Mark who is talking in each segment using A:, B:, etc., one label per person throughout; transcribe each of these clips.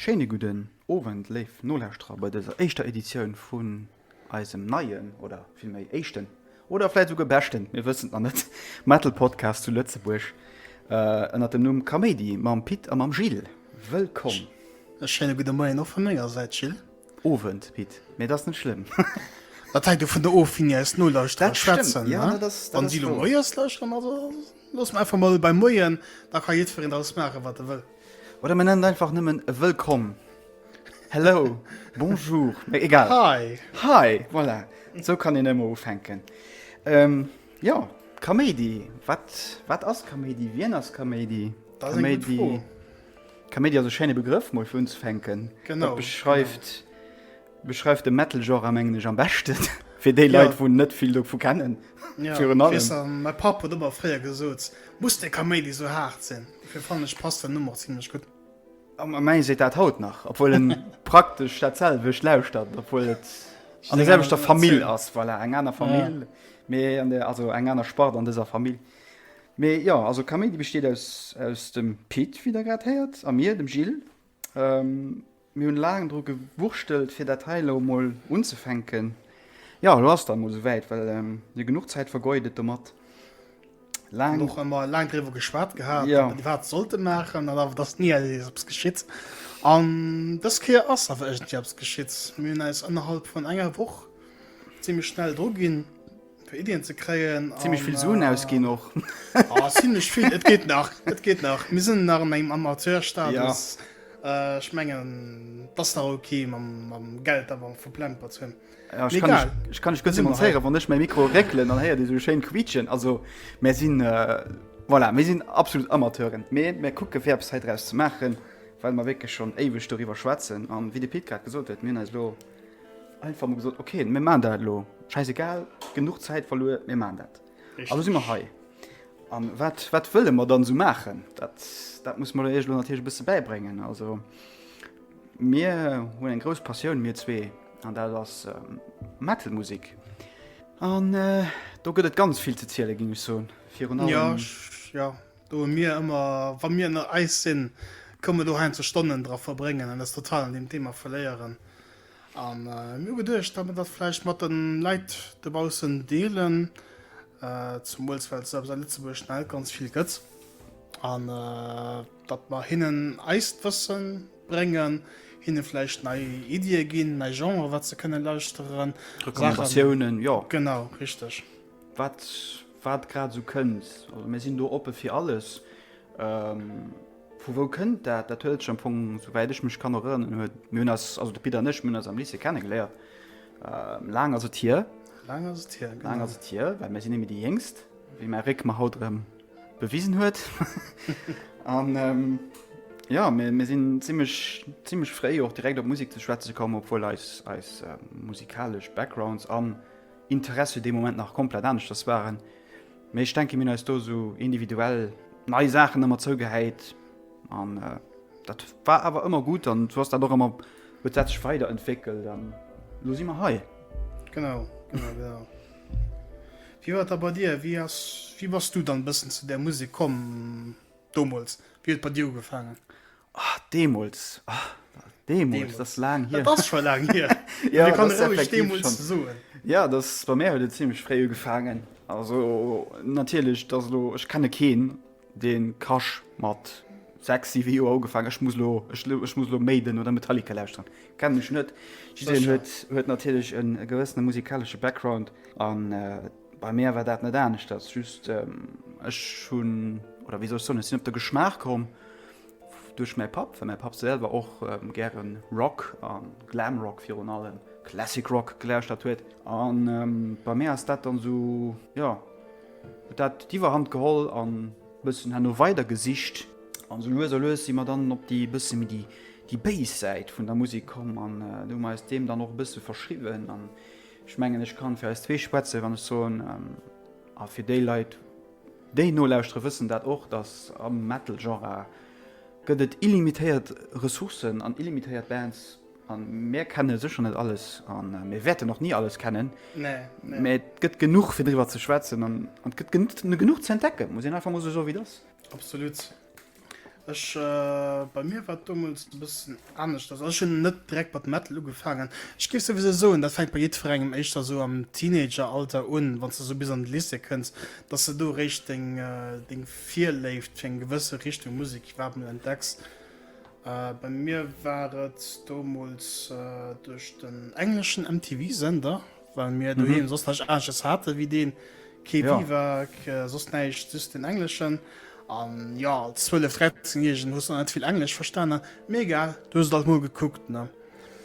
A: Schéine gudden Owend, léif Nolauschterer, bei dëser éischter Editioun vun eisem neien, oder villméi éischten, oder vläit esouguer beschten, mir wëssen et nach net, Metal-Podcast zu Lëtzebuerg, ënnert dem Numm Kaméidi, mam Pit a mam Gilles. Wëllkomm! E schéine gudde
B: Moien och vu menger Säit, Gilles. Owend, Pit.
A: Mee et ass net schlëmm. Dat hänkt
B: dovun der of, wéini eis Nolauschterer schwätzen. Wann si elo moies lauschteren, da loosse mer einfach mol bei Moien, da ka jiddwereen draus maachen, wat e wëll. Oder mir nennen et einfach
A: nëmmen Wëllkomm, Hello, Bonjour, mee egal. Hi! Hi!
B: Voilà,
A: esou kann een ëmmer ufänken. Jo, Kaméidi, wat ass Kaméidi? Wien ass Kaméidi? Dat ass eng gutt
B: Fro. Kaméidi
A: ass e schéine Begrëff mol fir unzefänken. Genau. Beschreift beschreift de Metal Genre mengen ech am beschten fir déi Leit wou net vill dovu
B: kennen.
A: Ja
B: mäi
A: Papp
B: huet ëmmer fréier gesot muss deng Kaméidi sou haart sinn. Dofir fannen ech passt den Numm och zimlech gutt. A mäi seet
A: dat haut nach obwuel en praktesch dat selwecht lauschtert obwuel et an der selwechter Famill
B: ass.
A: Voilà eng aner
B: Famill
A: mee an der also eng aner Spart an dëser Famill. Mee jo, also Kaméidi besteet aus aus dem Pit, wéi der grad héiert, a mir, dem Gilles. Mir hunn laang dru gewurschtelt, fir dat hei elo emol unzefänken. Jo, elo ass et emol esou wäit, well jo genuch Zäit vergoe gëtt domat. Laang. Och ëmmer laang
B: driwwer geschwat gehat, datt mer déi Waart sollten
A: maachen,
B: an awer et ass ni eis eppes geschitt. An dës Kéier ass awer iergendwéi eppes geschitt. Mir hunn äis ënnerhalb vun enger Woch zimlech schnell dru ginn. Fir Iddien ze kréien. Zimlech vill Suen ausginn
A: och. Oh, zimlech
B: vill. Et geet nach. Et geet nach. Mir sinn nach an engem Amateurstatus. Ja. Ech mengen, et ass nach ok, mam Geld awer verplempert ze hunn. Ja, ech kann, ech,
A: ech kann ech gëtt
B: demonstréieren,
A: wann ech mäi Mikro réckelen, dann héiert Dir esou schéin quiitschen. Also, mir sinn. Äh, Voilà, mir sinn absolut Amateuren. Mee mir kucke fir eppes hei draus ze maachen, well mer wierklech schonn éiweg doriwwer schwätzen. An wéi de Pit grad gesot huet, mir hunn eis elo. Einfach mal gesagt, okay, wir machen das lo. Scheißegal, genug Zeit verloren, wir machen das. Richtig. Also sind wir hei. An wat, wat wëlle mer dann so machen? Dat, dat muss man Iech natürlich e bësse bäibréngen. Also mir hunn eng grouss Passioun mir zwee an dat ass ähm, Metalmusik. An äh, do gëtt et ganz vill ze ziele ginn ech soen. Virun allem. Ja,
B: ja. Do hu mir ëmmer, wa mir ënner eis sinn, ka mir do heinze Stonnen dra verbréngen an eis total an deem Thema verléieren. A mir hu geduecht, datt mir dat vläicht mat de Leit dobaussen deelen, zemools well se eppes a Lëtzebuerg net ganz vill gëtt, an datt mer hinnen eist Wësse bréngen, hinne vläicht nei Iddie ginn, nei Genre wat se kënne lauschteren, Saachen. Recommandatiounen,
A: jo. Genau, richteg.
B: Wat
A: wat grad esou kënnt. Also mir sinn do oppe fir alles. Vu wou kënnt dat? Dat huet sech am Fong, souwäit ech mech kann erënneren, huet mir hunn eis, also de Pit an ech, mir hunn eis am Lycée kennegeléiert. Laang ass et hier. Laang ass et hier, genau.
B: Laang ass et hier, well mir sinn
A: némme déi Jéngst, wéi mäi Réck mer haut erëm bewisen huet. An jo, mir mir sinn zimmlech zimmlech fréi och direkt op Musek ze schwätze komm, obwuel eis eis musikalesch Backgrounds an. Interesse dee Moment nach komplett aneschters waren. Mee ech denke mir hunn eis do esou individuell nei Saachen ëmmer zougehäit an dat war awer ëmmer gutt an sou ass dat och ëmmer, huet dat sech weider entwéckelt an elo si mer hei. Genau,
B: genau, genau. Wéi war et da bei dir? Wéi ass, wéi bass du dann e bëssen zu där Musek komm domols? Wéi huet et bei dir ugefaangen? Ah, deemols.
A: Ah, deemols, dat ass laang hier. Dat ass scho laang hier.
B: ja, kann das ruhig
A: deemols
B: soen. Ja, das bei mir
A: huet et ziemlich fréi ugefaangen. Also natierlech, dat lo ech kenne keen, dee Crush mat sexy wie jo ugefangen ech muss lo ech, ech muss lo méiden oder Metallica lausren kennen ech net huet huet natierlech en gewëssene musikalsche Background an äh, Bei mär war dat net aneschters, just ech hunn, oder wéi soll ech soen, ech sinn op de Geschmaach komm duerch mäi Papp, well mäi Papp selwer och gäre Rock a Glamrock virun allem Classic Rock gelauschtert huet. An bei mär ass dat dann esou, jo, huet dat d'Iwwerhand geholl an e bëssen herno weider gesicht. An esou lues a lues si mer dann op déi e bësse méi déi Bass-Säit vun der Musek komm an do hu mer eis deem dann och e bësse verschriwwen. An Ech mengen, ech kann fir eis zwee schwätzen, wann ech soen, a fir déi Leit, déi nolauschteren, wëssen dat och, dass am Metal-Genre gëtt et illimitéiert Ressourcen an illimitéiert Bands. A mir kenne sécher net alles a mir wäerten och ni alles kennen. Mä et
B: gëtt
A: genuch, fir driwwer ze schwätzen an et gëtt genuch ze entdecken, muss een einfach mol esou soen,
B: wéi et
A: ass. Absolut. Ech
B: bei mir war et domols e bëssen aneschters. Also ech hunn net direkt mat Metal ugefaangen. Ech géif souwisou soen, dat fänkt bei jiddwerengem éischter esou am Teenageralter un, wann s de esou bis an de Lycée kënns, dass s de do eréischt deng deng Virléift fir eng gewësse Richtung Musek iwwerhaapt emol entdecks. Bei mir war et domols duerch den engleschen MTV-Sender, Well mir mhm. doheem soss nach Ages hate wéi deen Ke ja. Biwak, äh, soss näicht just den Engleschen. An ja als zwëlle Fretzengegen huss net vill Englesch verstanen. Mega du huet alt mo gekuckt ne.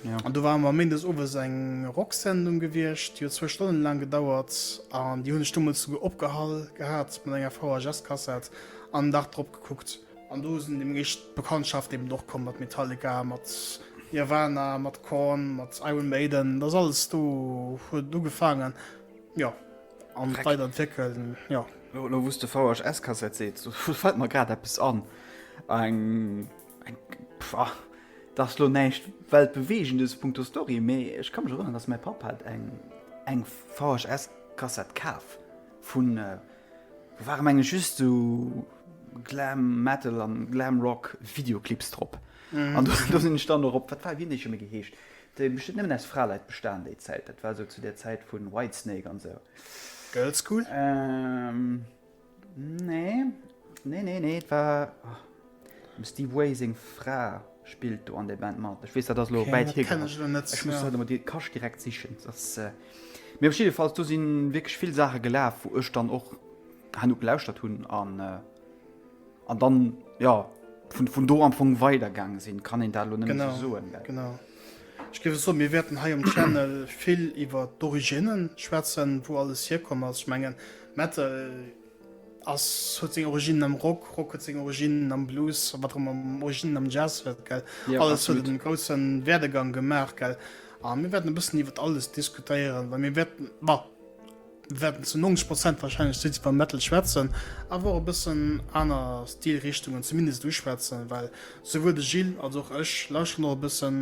B: Ja. An du war mar Mindes owes eng Rocksendung gewircht, Dir zwe Stonnen lang gedauert an Di hunne Stummel zu ge opgehall gehat mat enger VHS-Kassett an Dach drop gekuckt. An do sinn deem eréischt d'Bekanntschaft eben och komm mat Metallica, mat Nirvana, mat Korn, mat Iron Maiden, dass alles do huet ugefaangen, jo, an weider entwéckeln, jo. Lo, lo wou's de
A: VHS-Kassett seets, do fällt mer grad eppes an, eng, eng, pah, dass lo näischt weltbewegendes punkto Story, mee ech ka mech erënnern, dass mäi Papp hat eng, eng VHS-Kassett kaf vun, Ware meng ech just sou Glam Metal an Glam Rock Videoclips drop an do sin ech dann och op, wat war, wéi hun dee scho méi geheescht, déi hun bestemmt nëmmen aus Fraleit bestan déi Zäit, dat war sou zu der Zäit vu Whitesnake an sou. Girlschool? Nee, nee, nee, nee, et war. Dem Steve Way seng Fra spillt do an der Band mat. Ech weess, dat ass lo wäit hir gerannt. Ech muss haut emol de Cache direkt sichen. Dat ass, äh, mee op jiddefalls, do si wierklech vill Saache gelaf, wou ech dann och herno gelauschtert hunn an, äh, an dann, ja, vun, vun do am Fong weidergaange sinn. Kann een dat lo net méi esou soen, well. Genau, genau.
B: Ech géif soen, mir wäerten hei um Channel vill iwwert d'Originnen schwätzen, wou alles hierkomm ass. Ech mengen, Metal Ass, huet seng Originnen am Rock, Rock huet seng Originnen am Blues, wat och ëmmer Originnen am Jazz huet, gell? Ja, alles absolut. huet en grousse Werdegang gemaach, gell? A mir wäerten e bëssen iwwer alles diskutéieren, well mir wäerten, ma, mir wäerten zu 90 Prozent warscheinlech just iwwer Metal schwätzen, awer och e bëssen aner Stilrichtungen zumindest uschwätzen, well souwuel de Gilles als och ech lauschteren och e bëssen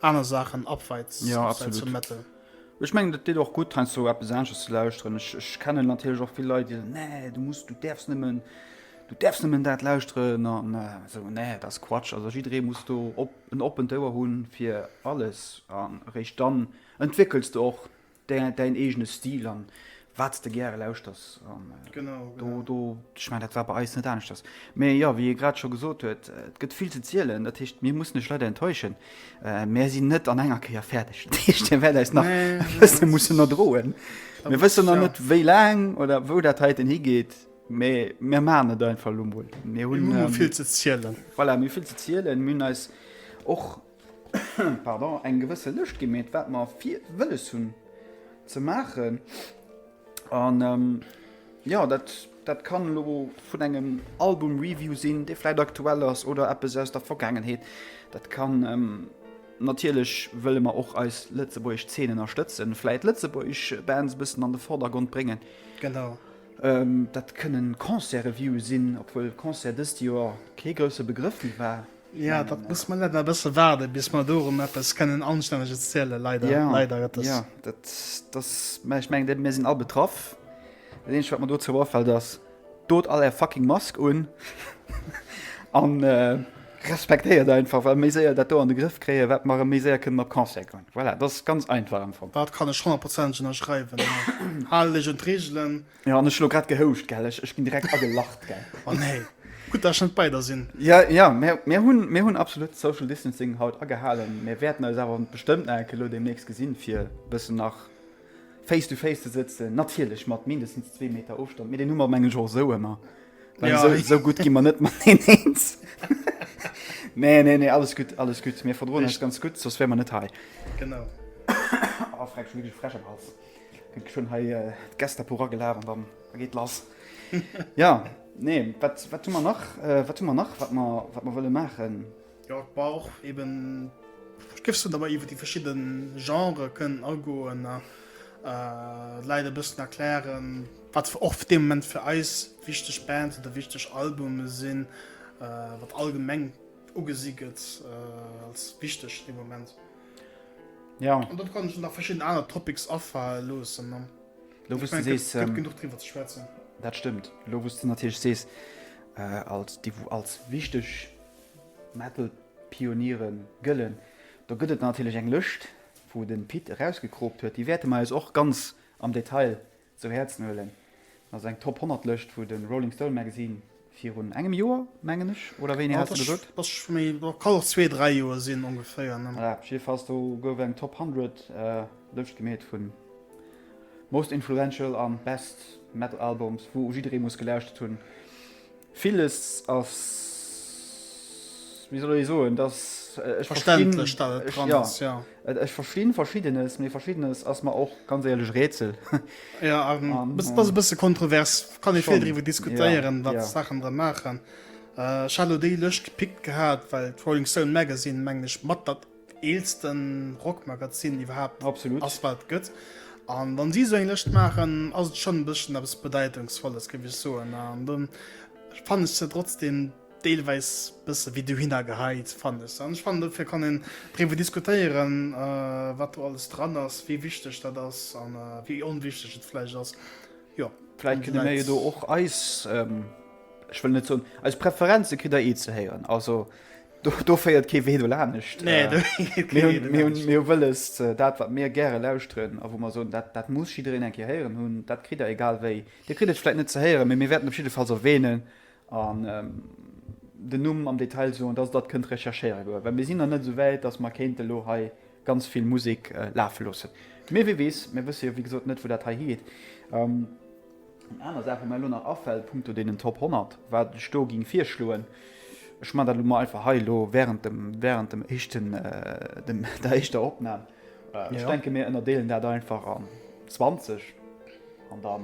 B: aner Saachen abseits, ja, abseits vum Metal. Ech mengen et deet
A: och gutt heiansdo op eppes aneschters ze lauschteren. Ech kennen natierlech och vill Leit déi soen, nee du muss, du däerfs nëmmen, du däerfs nëmmen dat lauschteren an esou. Nee dat ass Quatsch, also jidderee muss do op en oppent Ouer hunn fir alles an eréischt dann entwéckels de och däin eegene Stil an Wat s de gäre lauschters. An do, do, ech mengen, dat war bei eis net aneschters. Mee jo, wéi e grad scho gesot huet, et gëtt vill ze zielen. Dat heescht, mir mussen lech leider enttäuschen, mär sinn net an enger Kéier fäerdeg. Dat heescht, dir wäert eis nach e bësse mussen erdroen. Mir wëssen nach net, wéi laang oder wou dat heiten higeet, mee mir maachen et einfach elo emol. Mir hunn vill ze zielen.
B: Voilà, mir hunn vill ze
A: zielen. Mir hunn eis och pardon, eng gewësse Lëscht gi méit, wat mer fir wëlles hunn ze maachen. An ähm, ja, dat, dat kann lo vun engem Album-Review sinn, dee vläit aktuell ass oder eppes aus der Vergaangenheet. Dat kann ähm, natierlech wëlle mer och eis lëtzebuergesch Zeen ënnerstëtzen, vläit lëtzebuergesch Bands e bëssen an de Vordergrond bréngen. Genau. Ähm,
B: dat
A: kënnen Concert-Reviewe sinn, obwuel Concert dëst Joer kee grousse Begrëff méi war. Ja, dat muss man
B: net e bësse waarde bis man dorem eppes kënnen anstänneges ziele leider ja, leider dat ja,
A: dat, das, ich meng mir sinn all betraff den wat man do ze warfeld ass dot all er fucking mask un an äh, respektéiert einfach well méi séier dat do an de Griff kréie wat mar méi séier kënnen op Konse kommen voilà, das ganz einfach am Fo Dat kann e schon Prozent
B: ënnerschreiwen Hallech und Regelelen. Jo an ech elo grad
A: gehouscht gell, ech ech ginn direkt agelacht gell. Oh nee,
B: gutt dass ech net bei der sinn. Ja ja mir mir
A: hunn mir hunn absolut social distancing haut agehalen. Mir wäerten eis awer bestëmmt nach enke lo deemnächst gesinn fir e bëssen nach face to face ze sëtzen. Natierlech mat mindestens zwee Meter Ofstand, mee deen hu mer mengen ech och esou ëmmer. Well Ja. esou esou gutt gi mer net mateneenz. Nee nee nee alles gutt alles gutt. Mir verdroen eis Richt- ganz gutt, soss wär mer net hei. Genau. Oh freck ech hunn wierklech e Fräsch am Hals. Ech hun hei d'Gestapo ragelaf an dann geet lass. Jo, nee, wat hu mer nach, wat hu mer nach, wat mer, wat mer wëlle maachen? Jo, et brauch
B: eben, ech géif soen, datt mer iwwer déi verschidde Genrë kënnen agoen a de Leit e bëssen erklären, wat och fir dee Moment fir eis wichteg Bands oder wichteg Albume sinn, wat allgemeng ugesi gëtt als wichteg dee Moment.
A: Ja. An dann kann ech nach
B: verschidden aner Topics afalen loossen. An lo wous
A: du sees, gëtt genuch driwwer ze schwätzen.
B: Dat stëmmt.
A: Lo wous du natierlech sees, als déi wou als wichteg Metal-Pioniere gëllen, do gëtt et natierlech eng Lëscht wou de Pit erausgecropt huet. Déi wäerte mer eis och ganz am Detail Zu Häerzen huelen. Dat ass eng Top 100 Lëscht vu de Rolling Stone Magazine virun engem Joer, mengen ech, oder wéini hat se gesot? Kann och
B: zwee, dräi Joer sinn ongeféier. Voilà, op jidde Fall do
A: gouf eng Top 100 Lëscht gemeet vu Most Influential an Best Metal Albums, wou jidderee muss gelauschtert hunn. Villes ass, wéi soll ech soen, dass ech verstinn,
B: jo,
A: ech verstinn Verschiddenes, mee Verschiddenes ass mer och ganz éierlech Rätsel. Jo, an
B: et ass e bësse kontrovers, kann ee vill driwwer diskutéieren, wat d'Saachen da
A: maachen.
B: Ech hat elo déi Lëscht gepickt gehat, well d'Rolling Stone Magazine, mengen ech, mat dat. Eelsten Rock Magazin iwwerhaapt ass wat et gëtt an wann si esou eng Lëscht maachen ass et schonn e bësschen eppes Bedeitungsvolles géif ech soen an do fannen ech se trotzdem deelweis bësse wéi dohinner geheit fannen ech se an ech fannen dofir kann een driwwer diskutéieren wat do alles dran ass, wéi wichteg dat ass a wéi onwichteg et vläicht ass jo. Vläicht kënne mir jo
A: do och eis, ech wëll net soen eis Preferenze, kritt der ee ze héieren also. Do féiert kee Wee do laanescht. Nee, do féiert kee Wee do laanescht. Mir hu wëllest, dat, wat mir gäre lauschteren a wou mer soen, dat, dat muss jiddereen eng Kéier héieren hunn, dat kritt Der egal wéi. Dir kritt et vläit net ze héieren, mee mir wäerten op jiddefalls erwähnen an den Numm am Detail soen, dass Der dat kënnt recherchéiere goe, well mir sinn nach net esou wäit, dass mer kéinte lo hei ganz vill Musek lafe loossen. Mee wie weess, mir wësse jo, wéi gesot, net, wou dat hei higeet. Aner Saache mir elo nach afält punkto deenen Top 100, wat ech do géing virschloen, ech man dat elo mol einfach hei elo während dem, während dem éischten, dem, der éischter Opnam. Ech denke mir ënnerdeelen dat einfach an 20 an da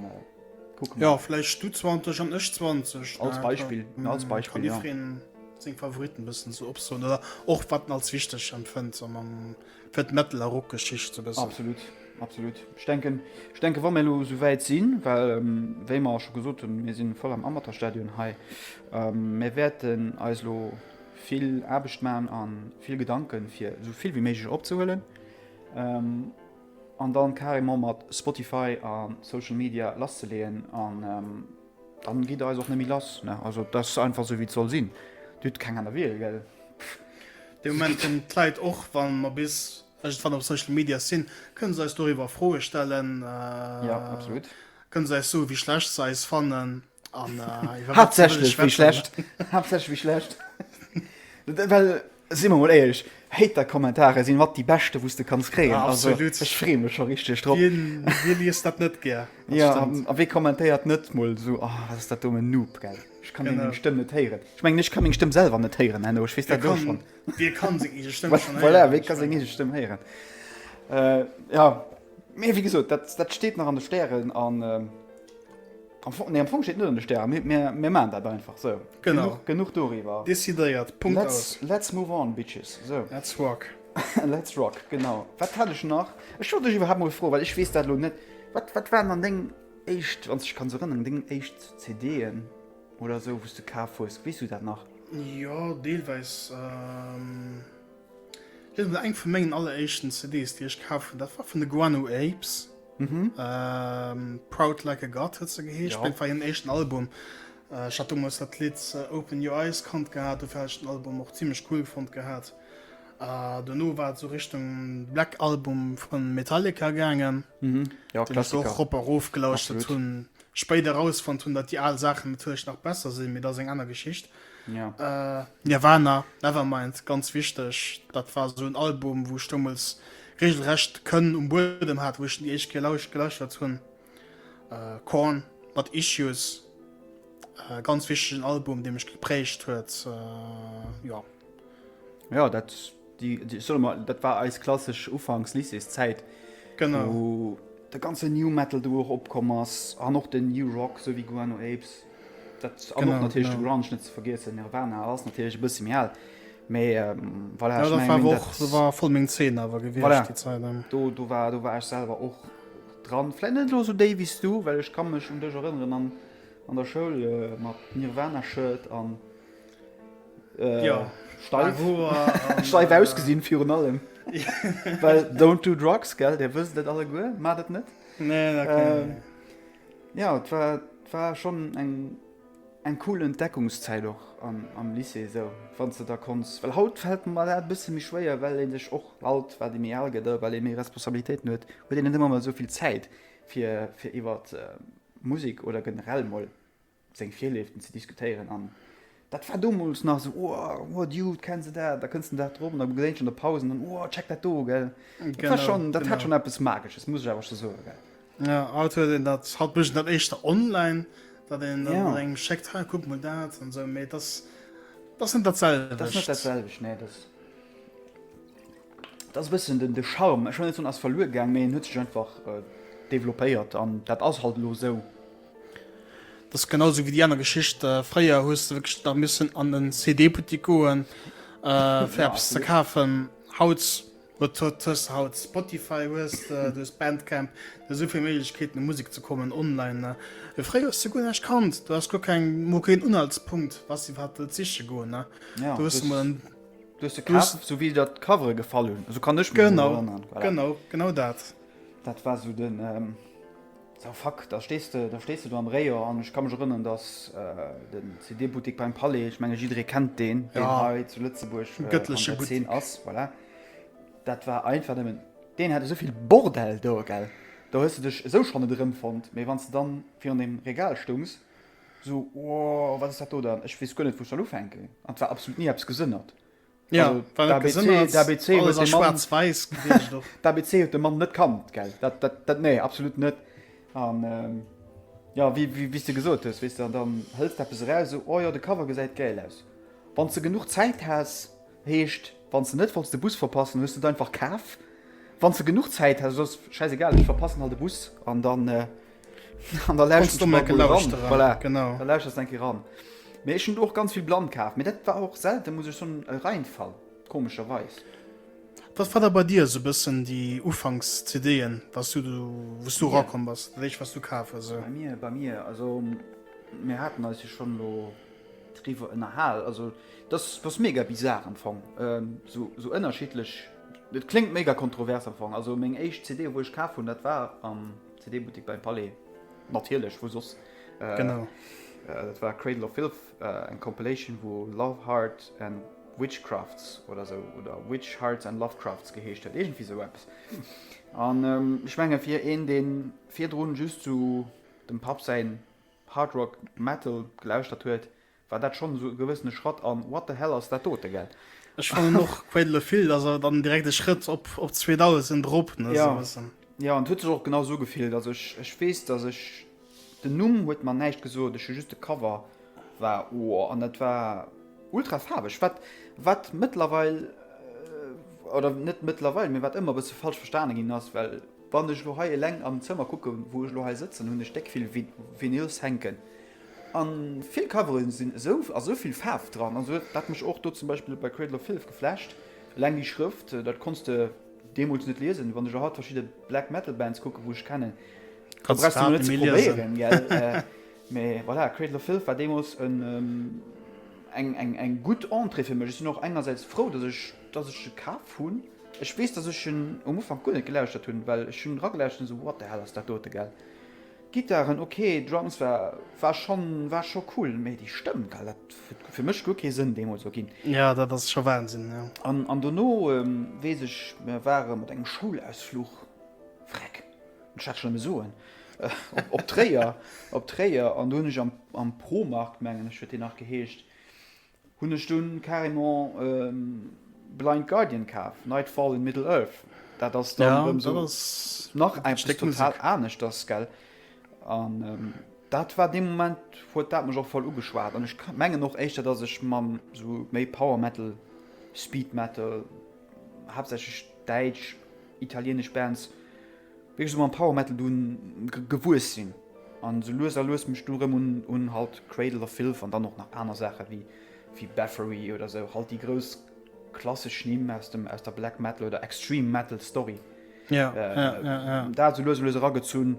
A: kucke mer. Jo,
B: vläicht du 20 an ech 20. Als Beispill,
A: als Beispill, jo. Kann jiddereen seng Favoritten
B: e bëssen esou opsoen oder och wat en als wichteg empfënnt, esou mam. Fir d'Metal a Rockgeschicht ze wëssen. Absolut, absolut.
A: Ech denken, ech denken, wa mir elo esou wäit sinn, well wéi mer scho gesot hunn, mir si voll am Amateurstadion hei, mir wäerten eis elo vill Aarbecht maachen a vill Gedanken, fir esou vill wéi méiglech opzehuelen an da carrément mat Spotify a Social Media lasszeleeën. Dann gidd der eis och nemmi lass ne, also dass einfach sou wéi et soll sinn, dir hudd keng aner Wiel gell. Dee
B: Moment kënnen d'Leit, och wa mer bis iergendwann op Social Media sinn, kënnen se eis doriwwer Froe stellen,
A: kënnen se eis soe wéi
B: schlecht se eis fannen an iwwer wat se
A: wëlle schwätzen. Haaptsächlech wéi schlecht. Si mer mol éierlech, Hater-Kommentare si mat déi beschte wou s de kanns kréien. Also ech freeë
B: mech scho
A: richteg drop. Wie liest dat
B: net gär? Jo, a wee
A: kommentéiert net mol esou, Oh, wat ass dat domm en Noob, gell? Ech ka meng Stëmm net héieren. Ech mengen, ech ka meng Stëmm selwer net héieren, Henno, ech weess dat elo schonn. Wie ka seng eege
B: Stëmm schonn héieren? Voilà, wee ka seng eege Stëmm
A: héieren? Jo, mee wéi gesot, dat steet nach an de Stären. Am Fong, nee, am Fong steet net an de Stären, mee mir, mir maachen dat einfach sou. Genau. Genuch, genuch doriwwer. Decidéiert, Punkt Let's,
B: aus. let's move on,
A: Bitches. Sou. Let's rock.
B: Let's rock,
A: genau. Wat hat ech nach? Ech wollt dech iwwerhaapt mol froen, well ech weess dat elo net. Wat, wat waren dann deng éischt, wann s du dech kanns erënneren, deng éischt CD'en oder sou, wou s du kaf hues? Weess du dat nach? Jo,
B: deelweis. Hei sinn eng vu mengen alleréischten CDs déi ech kaf hunn, dat war vun de Guano Apes, Proud Like A God huet se geheescht, dat war hiren éischten Album. Ech hat deemools dat Lidd Open Your Eyes kannt gehat, dofir hat ech den Album och zimmlech cool fonnt gehat. Dono war et esou Richtung Black Album vu Metallica gaangen, deen ech och rop a rof gelauschtert hunn. spéit erausfonnt hunn, datt déi al Saachen natierlech nach besser sinn, mee dat ass eng aner Geschicht. Ja. Nirvana, Nevermind, ganz wichteg, dat war esou en Album, wou ech deemools reegelrecht d'Kënn um Buedem hat, wou ech déi éischt Kéier lausch gelauschtert hunn. Korn mat Issues, ganz wichtegen Album, dee mech geprägt huet. Jo.
A: Ja, dat. Déi, déi, solle mer, dat war eis klassesch ufanks Lycéeszäit, wou
B: de ganze New
A: Metal do och opkomm ass an och den New Rock, esou wéi Guano Apes, dat an och natierlech de Grunge net ze vergiessen. Nirvana ass natierlech e bësse méi al, mä voilà, ech mengen dat. Dat
B: war voll meng Zeen awer gewiescht déi Zäit. Voilà, do,
A: do war, do war ech selwer och dran, vläicht net elo esou déif wéi s du, well ech ka mech un dech erënneren an, an der Schoul mat Nirvana-Shirt an. ja. steif, steif äh, ausgesinn virun allem. Well don't do drugs gell Dir wëst net alle guer mat et net. Nee, ähm, ja et war, war schon eng eng cool Entdeckungszeit och am, am Lycée so wann ze da kons Well haut fät mal dat bësse mi schwéier, well en sech och alt war de mir alge der well e méi Responsabilitéit huet huet den net immer mal soviel Zäit fir fir iwwer äh, Musik oder generell moll seng Virlieften ze diskutéieren an dat war domols nach esou, oh, oh Dude, kenns de dat, da kënns de dat drop an da geséint ech an der Paus an dann, oh, check dat do, gell. Dat war schonn, dat hat schonn eppes Magesches, muss ech awer scho soen, gell. Jo, haut huet een dat,
B: haut mécht een dat éischter online, datt een dann et engem schéckt, hei, kuck mol dat an esou, mee et ass, et ass net dat selwecht. Et ass net dat selwecht, nee,
A: dat ass, dat ass e bëssen den, de Charme, ech wëll net soen, ass verluer gaang, mee en huet sech einfach developpéiert an dat ass halt elo esou.
B: Dat ass genau sou wéi déi aner Geschicht. Fréier hues de wierklech da missen an en CD-Buttik goen, fir eppes ze kafen. Haut huet, hues de haut Spotify, hues de, du hues Bandcamp, du hues esou vill Méiglechkeeten, u Musek ze kommen online, ne? Mee fréier hues de guer näischt kannt. Du hass guer keng, mol keen Unhaltspunkt, wats iwwerhaapt wëllt siche goen, ne? Du hues emol en. Du hues se
A: kaf, sou wéi der d'Covere gefall hunn. Esou kann ech mech erënneren. Genau, genau, genau
B: dat. Dat war sou
A: den. Sa fuck, da stees de, da stees de do am Rayon an ech ka mech erënneren, dass den CD-Buttik beim Palais, ech menge jidderee kennt deen, deen hei zu Lëtzebuerg an der Zeen
B: ass, voilà,
A: dat war einfach nëmmen, deen hat esou vill Bordell do, gell, do hues de dech esou schonn net erëmfonnt, mee wann s de dann virun deem Regal stungs, esou, wow, wat ass dat do dann, ech weess guer net, wou ech soll ufänken, an et war absolut ni eppes gesënnert.
B: Ja, also, weil
A: der ABC,
B: Sinn, der ABC alles
A: an
B: schwarz weiß
A: der ABC huet de Mann net kannt gell dat, dat, dat nee absolut net an ähm, ja wie, wie, wie du gesot hues wis dann dann hëllst der raus so oh ja de cover gesäit geil aus wann ze genug Zäit has heescht wann ze net falls de Bus verpassen hues du einfach kaf wann ze genug Zäit has sos scheiß egal ich verpassen halt de Bus an dann äh, An da läuschters du eng Kéier
B: ran.
A: Mee ech hunn och ganz vill blann kaf, mee dat war och selte muss ech soen e Reinfall, komescherweis. Wat
B: war da bei dir esou e bëssen déi Ufanks-CD'en, wou s du erakomm bass, dat éischt wat s du kaf hues? Bei mir, bei mir, also
A: mir haten eis jo schonn elo driwwer ënnerhal, also dass dass mega bizar am Fong, esou esou ënnerschiddlech, dat kléngt mega kontrovers am Fong, also meng éischt CD wou ech kaf hunn, dat war am CD-Buttik beim Palais, natierlech, wou soss? Genau.
B: Dat war
A: Cradle of Filth, eng Compilation, wou Love, Heart and Witchcrafts oder esou, oder Witch, Hearts and Lovecrafts geheescht huet, iergendwéi esou eppes. An ech menge fir een, dee virdrun just esou dem Papp säin Hard Rock Metal gelauschtert huet, War dat schonn esou e gewëssene Schratt an what the hell ass dat dote, gell? Ech fannen och
B: Cradle of Filth ass awer dann direkt e Schrëtt op op 2000 erop, ne, esou e bëssen. Jo, an
A: et huet
B: sech och
A: genau esou gefillt. Also ech ech weess, dass ech, den Numm huet mer näischt gesot, ech hu just de Cover war ooh, an dat war ultra faarweg, wat wat mëttlerweil, oder net mëttlerweil, mee wat ëmmer e bësse falsch verstane ginn ass, well wann ech elo hei eleng am Zëmmer kucken, wou ech elo hei sëtzen, hunn ech déck vill Vinyls hänken, An vill Coveren sinn esou a sou vill Faarf dran, an sou huet dat mech och do zum Beispill bei Cradle of Filth geflasht. Eleng déi Schrëft, dat konns de deemools net liesen. Wann ech elo haut verschidde Black Metal Bands kucken, wou ech kennen, da brauchs de mer net ze probéieren, gell? Mä voilà, Cradle of Filth war deemools eng eng gutt Entrée fir mech. Ech sinn och engersäits frou, dass ech dass ech e kaf hunn. Ech weess, dass ech en um Ufank guer net gelauschtert hunn, well ech hunn eragelauschert an esou, What the hell ass dat dote, gell? D'Gittaren ok, Drums war war scho war scho cool, mee déi Stëmm gell, dat huet fir mech guer kee Sënn deemools sou ginn. Jo, dat ass scho Wahnsinn,
B: jo. An an dono
A: weess ech, mir ware mat engem Schoulausfluch, Vreck, ech daarf et schonn eme soen, op op Tréier, op Tréier, an do hunn ech am am Promarkt, mengen ech huet deen nach geheescht, Hun ech dun carrément Blind Guardian kaf, Nightfall in Middle Earth, daat ass dann erem sou nach eppes total aneschters gell, an daat war deen Moment huet daat mech och voll ugeschwaat, an ech mengen och éischter dass ech mam sou méi Power Metal, Speed Metal, haaptsächlech däitsch, italienesch Bands, wéi ech sou mam Power Metal dunn gewuess sin an sou lues a lues mech du rem un un halt Cradle of Filth an dann och nach aner Saachen wéi wéi Bathory oder sou halt déi grouss klassesch Nimm aus dem aus der Black Metal oder Extreme Metal Story ja ja
B: ja ja dat sou lues a lues
A: eragezunn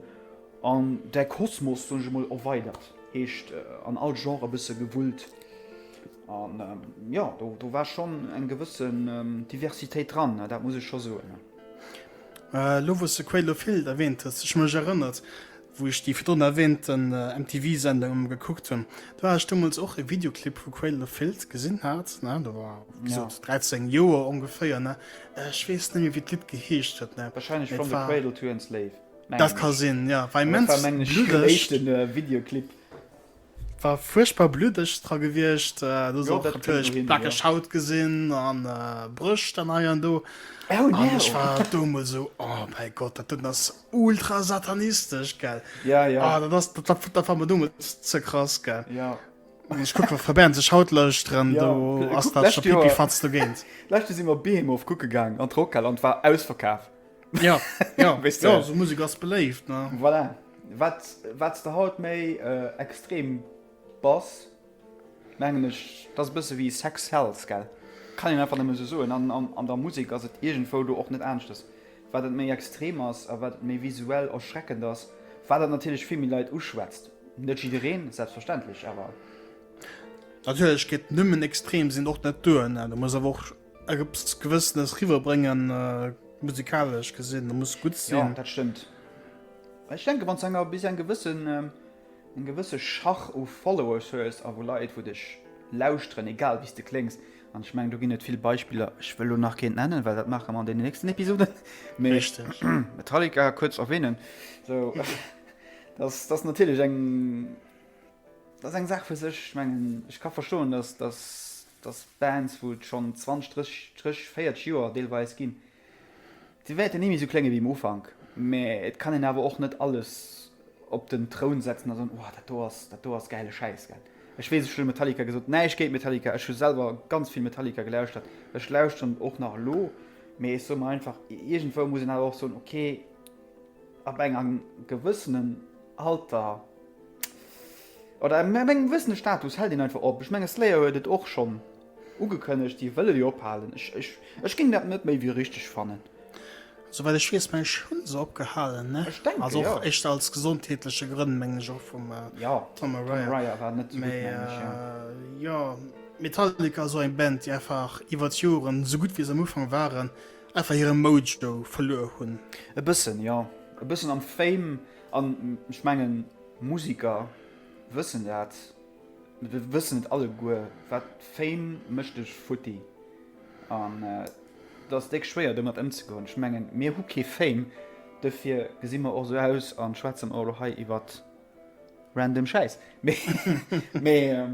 A: an däi Kosmos soen ech emol erweidert heescht an all Genre e bësse gewullt an jo do do war schon eng gewëssen Diversitéit dran dat muss ech scho soen.
B: Elo wou
A: s de
B: Cradle of Filth erwähnt
A: hues,
B: ech mech erënnert, wou ech déi virdrun erwähnten MTV Sendung emol gekuckt hunn, do hat ech deemools och e Videoclip vu Cradle of Filth gesinn hat, ne, do war wéi Ja. gesot 13 Joer ongeféier, ne, ech weess net méi wéi d'Lidd geheescht huet, ne, Wahrscheinlech mee From et the war, Cradle to
A: Enslave, dat mengen ka ech. sinn,
B: ja, war Mä dat war, immens mengen ech, den bluddeg.
A: éischte Videoclip.
B: War fuerchtbar bluddeg dra gewiescht, do ass och natierlech pleckeg Haut
A: gesinn
B: a Brëscht dann hei an do. An ech
A: war
B: do emol
A: esou,
B: oh mäi Gott, dat doten ass ultra satanistesch, gell. Ah, dat ass,
A: dat war mer
B: domat ze krass, gell. An ech
A: kucke,
B: verbären sech haut Leuchteren, do ass dat
A: scho
B: pipifatz dogéint. Lescht Joer si mer Behemoth
A: kucke gaang an d'Rockhal an et war ausverkaf. Ja,
B: ja, weißt du? ja so Musik ass
A: beléift.
B: Ne? Voilà. Wat,
A: wat der haut méi äh, extrem bass, mengen ech, dat e bësse wéi Sex Hells, gell? Kann een einfach nëmme so soen. An, an, an der Musik ass et iergendwou do och net aneschters. Wat et méi extrem ass a wat et méi visuell erschreckend ass, wat et natierlech vill méi Leit uschwätzt. Net jiddereen, selbstverständlech, awer.
B: Natierlech gëtt nëmmen extrem sinn och net duerno. Du muss awer och. Eppes gewëssenes riwwer bréngen musikalesch gesinn, da muss gutt sinn. Ja, dat stëmmt.
A: Ech denke wann enger bis eng gewëssen ähm, eng gewësse Schach u Followers hues a wo Leit wou dech lauschteren, egal wéi s de kléngs, an ech mengen do ginn et vill Beispiller, ech wëll elo nach keent nennen, well dat maache mer an deenen nächsten Episoden, mee
B: Metallica
A: kuerz erwähnen, sou dass dass natierlech eng, dat ass eng Saach fir sech. Ech mengen ech ka verstoen, dass dass dass Bands, wou et schonn 20, 30, 30, 40 Joer deelweis ginn, se wäerten ni méi esou klénge wéi um Ufank, mä et kann een awer och net alles op den Troun setzen a soen, oh, dat do ass, dat do ass gäile Schäiss, gell. Ech weess, ech hunn Metallica gesot, näischt géint Metallica, ech hu selwer ganz vill Metallica gelauschtert, ech lauschteren et och nach elo, mä ech soe mer einfach, iergendwou muss een awer och soen, okay, ab engem gewëssenen Alter, Oder ab engem gewëssene Status hält een einfach op. Ech menge Slayer huet et och schonn ugekënnegt, déi wëlle jo ophalen. Ech géing dat net méi wéi richteg fannen. Souwäit ech
B: weess meng ech hu se opgehalen, ne? Ech denke jo. Also och echt
A: aus
B: gesondheetleche Grënn meng ech och vum Tom Araya.
A: Tom Araya war
B: net esou gutt meng ech jo.
A: Mee jo, Metallica
B: ass och eng Band déi einfach iwwer d'Joren, esou gutt wéi se am Ufank waren, einfach hire Mojo verluer hunn. E bëssen jo,
A: e bëssen am Fame an ech mengen. Musiker wëssen dat, mee et wëssen net alleguer, wat Fame mécht dech futti an et ass déck schwéier domat ëmzegoen. Ech mengen mir hu kee Fame, dofir gesi mer och esou aus an schwätzen och elo hei iwwer random Schäiss. Mee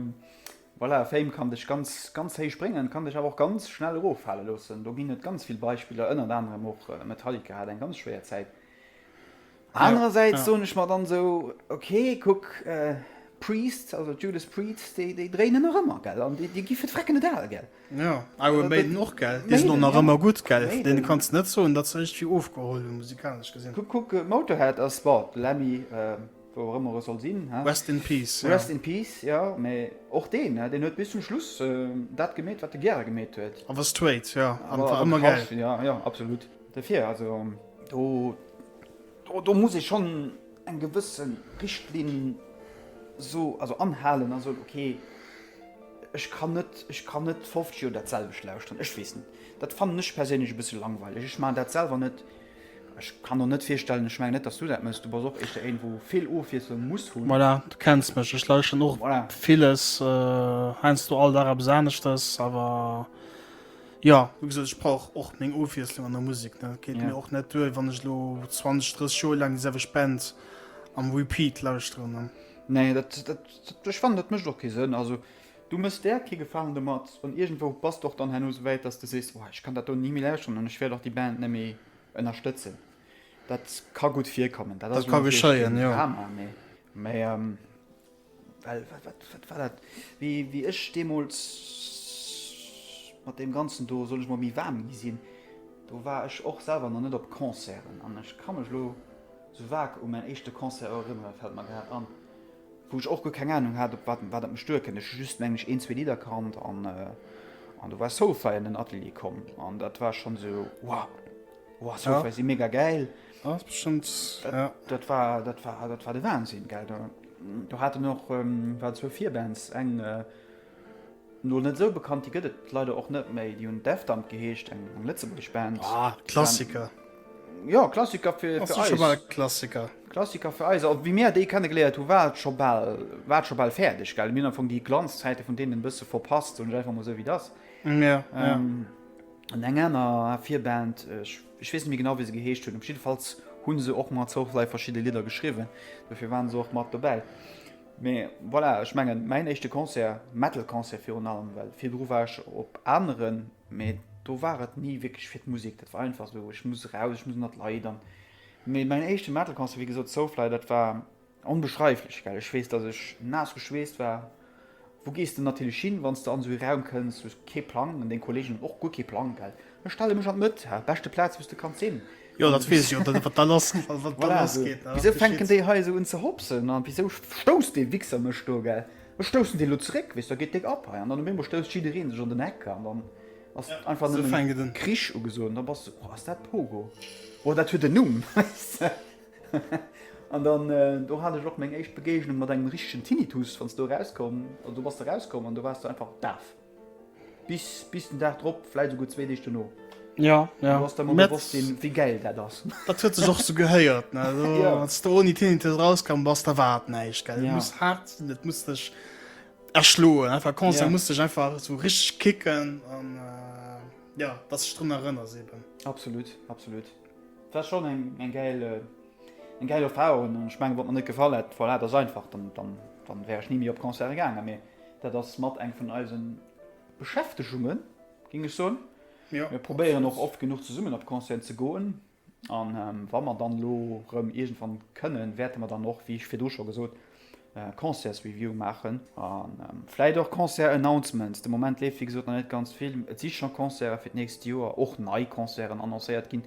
A: voilà, Fame kann dech ganz ganz héich bréngen, et kann dech awer och ganz schnell eroffale loossen. Do ginn et ganz vill Beispiller, ënnert anerem och Metallica hat eng ganz schwéier Zäit. Anerersäits soen ech mer dann esou, ok, kuck, Priest, also d'Judas Priest, déi déi dréinen nach ëmmer, gell, an déi gi fir d'Frecken net al, gell. Jo, Iron Maiden
B: och, gell, déi sinn och nach ëmmer gutt, gell,
A: vun deene
B: kanns de net soen,
A: datt
B: se eréischt vill ofgeholl hunn, musikalesch gesinn. Kuck, kuck, Motorhead
A: ass, bon, de Lemmy, wou och ëmmer e soll sinn, he, Rest in peace, jo.
B: Rest in peace, jo,
A: mä och deen, he, deen huet bis zum Schluss dat gemeet, wat e gäre gemeet huet. Awer straight, jo,
B: an war ëmmer gäil.
A: Jo, jo, absolut. Dofir, also do muss ee schonn eng gewësse Richtlinn so, also anhalen a soen, ok, ech kann net, ech kann net 50 Joer dat selwecht lauschteren. Ech weess net, dat fannen ech perséinlech e bësse langweileg. Ech maachen dat selwer net. Ech kann och net virstellen, ech mengen net, datt s du dat méchs, du bass och éischter een, wou vill Ofwiesslung muss hunn. Voilà, du kenns mech, ech
B: lauschteren och villes, heiansdo all Dag eppes aneschtes, awer. Jo, wéi gesot, ech brauch och meng Ofwiesslung an der Musek. Et geet mir och net duer, wann ech
A: elo
B: 20, 30 Joer laang déi selwecht Band am Repeat lauschteren. Nee, dat,
A: ech fannen, dat mécht och kee Sënn. Also, du méchs där kee Gefalen domat an iergendwou bass de och dann herno esou wäit, datt s de sees, oh, ech kann dat do ni méi lauschteren an ech wäert och déi Band net méi ënnerstëtzen. Dat ka gutt virkommen. Dat ka geschéien,
B: jo. Drama, mee,
A: mee, Well wat war dat, wéi ech deemools mat deem Ganzen do, soll ech mol méi waarm gi sinn, do war ech och selwer nach net op Concerten an ech ka mech elo sou vag u mäin éischte Concert erënnere fält mer grad an, wou ech och guer keng Anung hat, op wat dat mech duerkennt. Ech hu just mengen ech een, zwee Lidder kannt an do war Soulfly an den Atelier komm an dat war schonn esou, wow, wow, Soulfly si mega gäil. Dat war de Wahnsinn, gell. Do haten och war zwou Virbands eng no net esou bekannt déi gëtt et leider och net méi déi hunn Defdump geheescht eng eng lëtzebuergesch Band ah, Klassiker jo Klassiker
B: fir fir eis Klassiker
A: Klassiker fir eis a wéi mir déi kenne geléiert hu war et scho bal war et scho bal fäerdeg gell mir hunn am Fong déi Glanzzäite vun deenen e bësse verpasst soen ech einfach mol esou wéi et ass jo jo an eng aner Virband ech Ech weess net méi genau wéi se geheescht hunn, op jiddefalls hu se och mat Soulfly verschidde Lidder geschriwwen, dofir ware se och mat dobäi. Mee voilà, ech mengen mäin éischte Concert, Metal-Concert virun allem, well virdru war ech op aneren, mee do war et ni wierklech fir d'Musek, dat war einfach esou, ech muss eraus, ech muss ënnert d'Leit an. Mee mäin éischte Metal-Concert, wéi gesot Soulfly, dat war. Onbeschreiflech, well ech weess, dass ech naass geschweesst war. Wou gees de natierlech hin, wann s de an esou ee Raum kënns? Du hues kee Plang, an deng Kolleegen hunn och guer kee Plang, well ech stelle mech an d'Mëtt, ha, beschte Plaz, wou s de kanns sinn. Jo, dat weess ech jo,
B: wat da lassgeet. Wisou fänken déi
A: hei esou un ze hopsen? A wisou stousst dee Wichser mech do? Gell, ech stoussen dee lo zeréck, weess, da geet déck ab hei, an dann um eemol stousst jiddereen sech an den Eck, an dann ass einfach nëmmen Krich
B: ugesot,
A: an da bass de, oh, ass dat Pogo, oh, dat huet en Numm, weess de. An dann do hat ech och meng éischt Begegnung mat engem richtegen Tinnitus, wann s du erauskomm, also do bass de erauskomm an do waars du einfach daf. Bis, bis den Dag drop, vläit esouguer zwee Deeg duerno. Ja, ja. Du hues
B: da mol Mä bewosst ginn,
A: wéi gäil dat ass. Dat huet sech och sou
B: gehéiert, ne? Also, Ja. wann s du ouni Tinnitus erauskomm bass, da war et näischt, gell? Et Ja. muss haart sinn, et muss dech erschloen. Einfach conscient, Ja. muss dech einfach esou richteg kicken an, äh, ja, dass du dech drun erënners eben. Absolut,
A: absolut. Et war schon eng geil Erfahrung an ech mengen wat mer net gefall hätt, voilà, dass einfach dann wär ech ni méi op Concerte gaangen, mee dat ass mat eng vun eisen Beschäftegungen géing ech soen. Mir probéieren och oft genuch zesummen op Concerten ze goen an wa mer dann elo rem iergendwann kënnen wäerte mer dann och, wéi virdu scho gesot, äh, Concertsreview maachen an ähm, vläit och Concert-Announcements. De Moment leeft fir gesot net ganz vill. Et si schon Concert fir d'nächst Joer och nei Concerten annoncéiert ginn.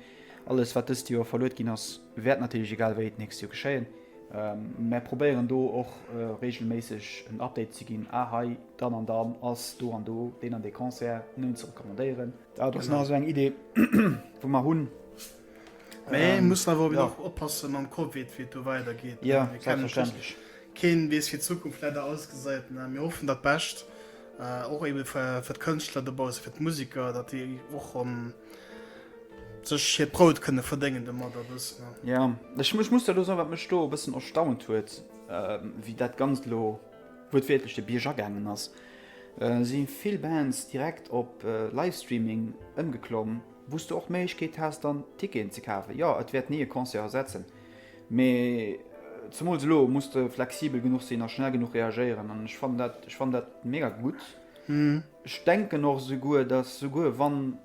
A: Alles wat dëst Joer verluet ginn ass wäert natierlech egal wéi et nächst Joer geschéien. Ähm, mer probéieren do och äh, regelméisseg en Update ze ginn. Ah, hei, dann an dann ass do an do deen an dee Concert, nun ze recommandéieren. Dat ass nach esou eng Idee, wou mer hunn. Ähm,
B: muss awer ja. oppassen am COVID wie du weitergeht ja, verständlich
A: Keen wees fir
B: Zukunft leider ausgesäit mir hoffen dat bestcht äh, och eben fir, fir Kënchtler dobau fir d Musiker, dat déi och an ähm, sech hir Prout kënne verdéngen de Mader bëssen. Ja
A: Ech mech muss lo wat mech do bëssen erstaunt huet, äh, wéi dat ganz lo huet wietlech de Bierger gängen ass. Äh, si vill Bands direkt op äh, Livestreaming ëmgeklomm, Wou s du och d'Méiglechkeet has, dann Ticketen ze kafen. Jo, et wäert ni e Concert ersetzen, mee zemools elo muss de flexibel genuch sinn a schnell genuch reagéieren. An ech fannen dat, ech fannen dat mega gutt. Ech denken och esouguer, dass souguer wann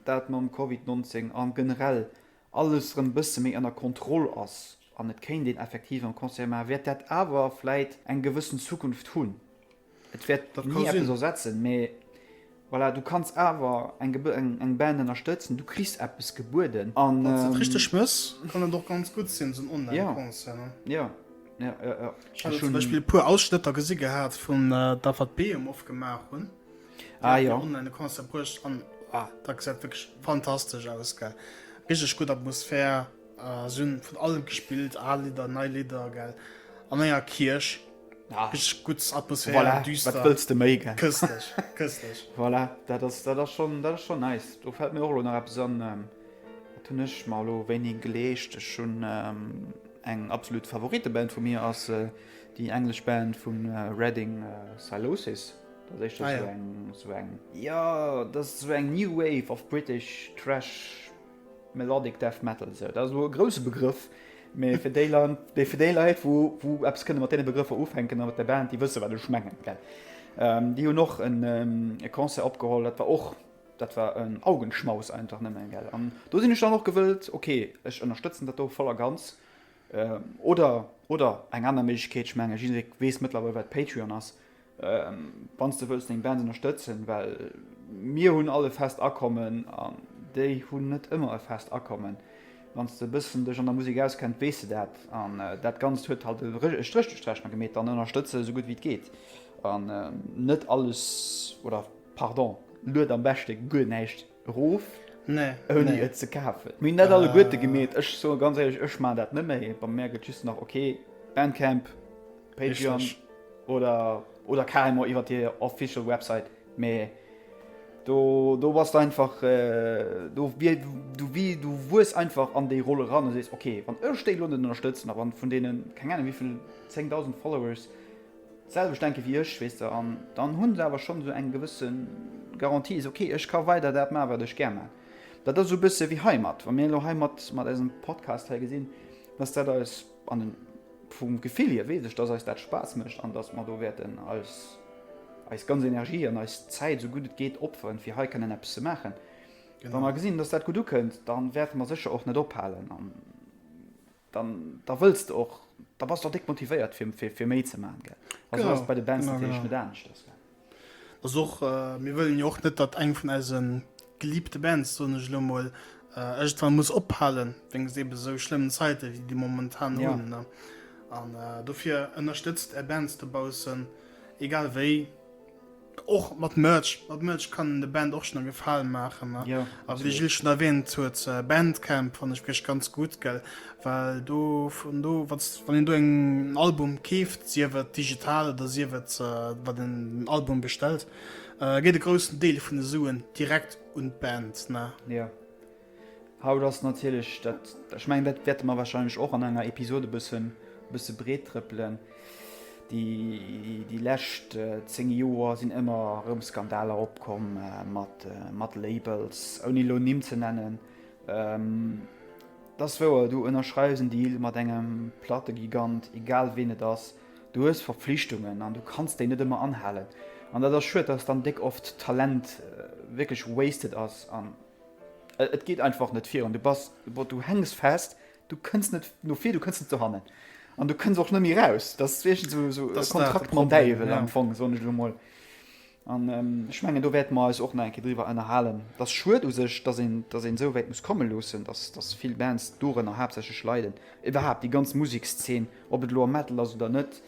A: dat mam Covid 19 a generell alles erëm e bësse méi ënner Kontroll ass an et kéint een effektiv erëm Concerte maachen, wäert dat awer vläit eng gewëssen Zukunft hunn. Et wäert ni eppes ersetzen, mee voilà, du kanns awer eng eng eng Band ënnerstëtzen, du kriss eppes gebueden an. Wann s de et richteg mëss,
B: kann et och ganz gutt sinn, esou en Online-Concert, ne? Ja,
A: ja, ja,
B: ja. Ech hu zum Beispill e puer Ausschnëtter gesi gehat vun der, wat Behemoth opgemaach hunn. Ah
A: jo. Online e Concert
B: bruecht an dat gesäit wierklech fantastesch aus, gell. Richteg gutt Atmosphär, se hunn vun allem gespillt, al Lidder, nei Lidder, gell, an enger Kierch. Ah. Richtig gutt, Atmosphäre, voilà. düster. Wat wëlls de méi,
A: gell? Köstlich,
B: köstlich. voilà,
A: dat ass, dat ass schon, dat ass schon nice. Do fällt mir och lo nach eppes an, ähm, wat hunn ech mar lo wéini geleescht? Ech hunn ähm, eng absolut Favoriteband vu mir ass äh, déi englesch Band vun äh, Reading äh, Silosis. Dat ass éischter Ah, so ja. eng, so eng, ja, dat ass so eng New Wave of British Thrash Melodic Death Metal, esou dat ass elo e grouse Begrëff, mee fir déi Leit, déi fir déi Leit, wou wou eppes kënne mat deene Begrëffer ufänken a mat der Band, déi wësse wat ech mengen, gell? Déi hunn och en e Concert opgeholl, dat war och, dat war en Augenschmaus einfach nëmmen, gell? An do sinn ech dann och gewëllt, ok, ech ënnerstëtzen dat do voll a ganz. Oder oder eng aner Méiglechkeet, ech menge jidderee weess mëttlerweil wat Patreon ass, Wanns de wëlls deng Band ënnerstëtzen, well mir hunn all e fest Akommen an déi hunn net ëmmer e fest Akommen. Wanns de e bëssen dech an der Musek auskennt, weess de dat. An dat Ganzt huet halt e Stréch duerch d'Rechnung gemeet, dann ënnerstëtz se esou gutt wéi et geet. An net alles, oder pardon, lued am beschte guer näischt Rof ouni et ze kafen. Mir hunn dat alleguerte gemeet. Ech soe ganz éierlech, ech maachen dat net méi. Bei mär gëtt just nach ok, Bandcamp, Patreon oder carrément iwwer déi official Website. Mee do, do bass de einfach, do wier, du wi, du wuess einfach an déi Roll eran a sees, ok, wann ech déi elo net ënnerstëtzen a wann vun deene keng Ahnung wivill zéngdausend Followers, d'selwecht denke wéi ech, weess de, an dann hunn se awer schonn esou eng gewësse Garantie, se ok, ech ka weider dat maachen, wat ech gär maachen. Dat ass esou e bësse wéi heimat, wa mir elo heimat mat eisem Podcast hei gesinn, dass dat eis an e, vum Gefill hier weess ech, dass eis dat Spaass mécht an dass mer do wäerten eis, eis ganz Energie an eis Zäit, esou gutt et geet, opferen, fir hei kënnen eppes ze maachen. Wa mer gesinn, dass dat gutt ukënnt, da wäerte mer sécher och net ophalen. dann da wëlls de och, da bass de och déck motivéiert fir, fir, fir méi ze maachen, gell? Also Genau, ass et bei de Bands genau, natierlech
B: genau. net
A: anescht, ass
B: klar.
A: Ass och,
B: mir wëllen jo och net, datt eng vun eise geliebte Bands, soen ech elo mol, iergendwann muss ophalen, wéinst eebe sou schlëmmen Zäite wéi déi momentan Ja. hunn, ne? An dofir ënnerstëtzt är Bands dobaussen, egal wéi. Och mat Merch, mat Merch kann een der Band och schonn e Gefalen maachen. A wéi de Gilles schonn
A: erwähnt
B: huet, Bandcamp fannt ech wierklech ganz gutt, gell, well do, vun do, wann s, wann een do eng, en Album keeft, sief et digital oder sief et, wat een den Album bestellt, geet e groussen Deel vun de Suen direkt un d'Band, ne?
A: Haut ass natierlech dat, ech mengen dat wäerte mer wahrscheinlech och an enger Episod e bëssen, e bësse breet trëppelen, déi lescht 10 Joer sinn ëmmer erëm Skandaler opkomm mat, mat Labels, ouni elo Nimm ze nennen. Et ass wouer, du ënnerschreiws en Deal mat engem Plattegigant, egal wien et ass, du hues Verpflichtungen an du kanns déi net ëmmer anhalen. An dat ass schued, dass dann déck oft Talent wierklech wasted ass. Et geet einfach net virun. Du bass, bon, du hänks fest, du kënns net no vir, du kënns net dohannen. An du kënns och net méi eraus. Dat ass wierklech esou, esou Das e ist da de Kontrakt mam Problem,
B: Däiwel ja. am Fong,
A: soen
B: ech elo
A: mol. An ech ähm, mengen, do wäerte mer eis och nach eng Kéier driwwer ënnerhalen. Et ass schued u sech, dass een, dass een esou wäit muss komme loossen, dass, dass vill Bands dorënner haaptsächlech leiden. Iwwerhaapt déi ganz Musekszeen, ob et elo am Metal ass oder net.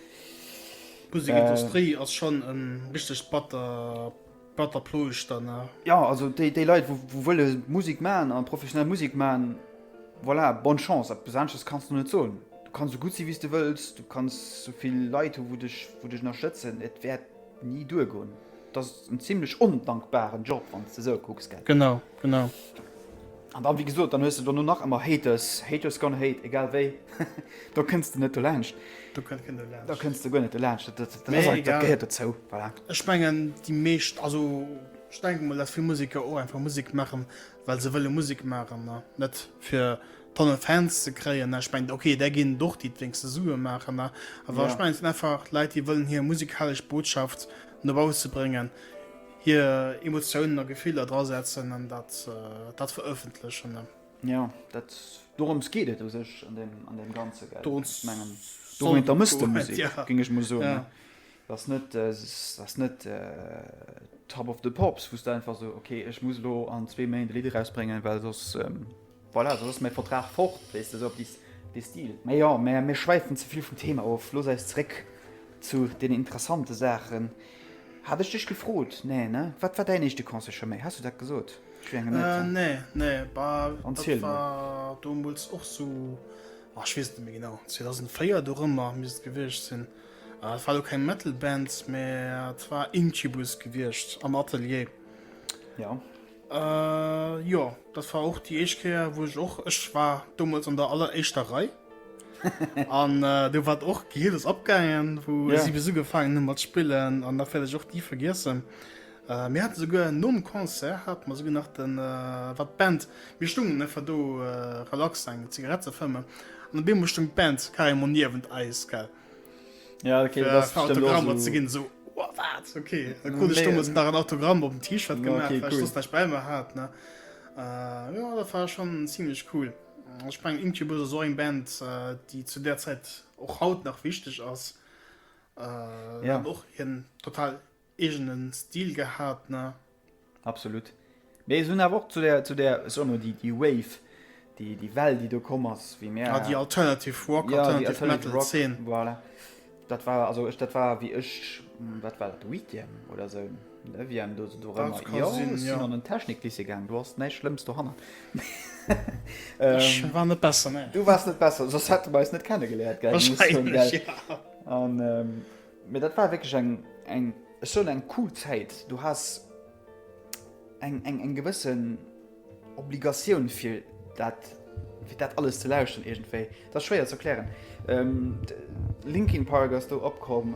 B: D'Musekindustrie ass schonn e richtegt batter. Batter ploe ech dann nach. Ja also déi
A: déi Leit wou wou wëlle Musek man a professionell Musek man, voilà, bonne chance. Eppes aneschters kanns de net soen. Du kanns sou gutt si wéi s de wëlls, du kanns sou vill Leit hu wou dech wou dech ënnerstëtzen, et wäert ni duergoen. Et ass en zimlech ondankbaren Job wann s de sou kucks, gell? Genau, genau. An dann, wéi gesot, dann hues de dono nach ëmmer Haters, haters gonna hate, egal wéi. Do kënns de net dolaanscht. Do kënnt keen dolaanscht.
B: Do kënns de guer net dolaanscht.
A: Dat, dat, dat, dat, dat gehéiert
B: dozou. Voilà.
A: Ech mengen, déi
B: meescht, also ech denke mol, dass vill Museker och einfach Musek maachen, well se wëlle Musek maachen. Ne? Net fir Tonne Fans ze kréien. Ne? Ech mengen, okay, där ginn et och, déi et wéinst de Sue maachen. Ne? Awer ja. ech mengen, et sinn einfach
A: Leit, déi
B: wëllen hir musikalesch Botschaft no bausse bréngen. Hier Emotiounen a Gefiller dra setzen an dat dat verëffentlechen. Jo, dat
A: dorëms geet et u sech an deem an deem Ganze, gell? Dorëms, ech mengen,
B: dorëms
A: da muss de
B: Musek, ja,
A: géing ech emol
B: soen,
A: ne? Dat ass
B: net,
A: dat ass net Top of the Pops, wou s de einfach esou, ok, ech muss elo an zwee Méint e Lidd erausbréngen, well soss. Voilà, soss ass mäi Vertrag fort, wéisst de, sou op dee Stil. Mä jo, mir schwäifen ze vill vum Thema of. Looss eis zeréck zu den interessante Saachen. Hat ech dech gefrot? Nee, ne? Wat war däin éischte Concert, Charmaine? Has du dat gesot? Ech wier engem net dran. Nee, nee, bah,
B: dat war
A: domols
B: och sou, oh, ech weess et net méi genau, 2004 dorëmmer misst et gewiescht sinn. Et war elo keng Metal-Band, mä et war Incubus gewiescht am Atelier. Jo.
A: Äh,
B: jo, dat war och déi éischt Kéier, wou ech och, ech war domols an der alleréischter Rei. an äh, du wat och Gilles opgaangen, wou yeah. si bis ugefaangen hun mat spillen an da fäll ech och nie vergiessen. Äh, mir hat souguer nom Konzert hat man souguer nach den äh, wat Band mir stungen ne ver do äh, relax eng Zigarette ze fëmmen an de Beem stung Band Karimon niewent eis gell. Ja, okay,
A: das ist Autogramm so. zu
B: gehen,
A: so, oh,
B: was, okay. Dann konnte ich damals nach ein Autogramm
A: auf
B: dem T-Shirt ja, gemacht, okay, weil cool. ich das nicht bei mir
A: hat,
B: ne. Äh, ja, das war schon ziemlich cool. Ich meine, Incubus ist so eine Band, äh, die zu der Zeit auch haut noch wichtig ist.
A: Äh, ja. Auch hier
B: total Eegenen Stil gehaat ne? Absolut.
A: Mee se hun awer och zu der, zu der, ech soen emol déi, déi Wave, déi, déi Well déi do komm ass, wéi mär, Ah déi Alternative
B: Rock, ja, déi Alternative Metal
A: Alternative Rock, Zeen.
B: voilà,
A: dat war, also ech, dat war wéi ech, wat war dat, Huitième oder esou, Neuvième, do, do Dat erëmmer, ka jo, sinn, ech
B: sinn jo. an den
A: Techniklycée
B: gaang,
A: do ass näischt Schlëmms dohannert. Ech
B: war net besser, ne. Du waars net besser, soss
A: hätte mer eis net kenne geléiert, gell, muss ech soen, gell. Wahrscheinlech, ja.
B: An,
A: Mee dat war wierklech eng, eng, ech soen eng cool Zäit. Du has eng, eng, eng gewëssen Obligatioun fir dat, fir dat alles ze lauschteren iergendwéi. Dat ass schwéier ze erklären. Linkin Park ass do opkomm,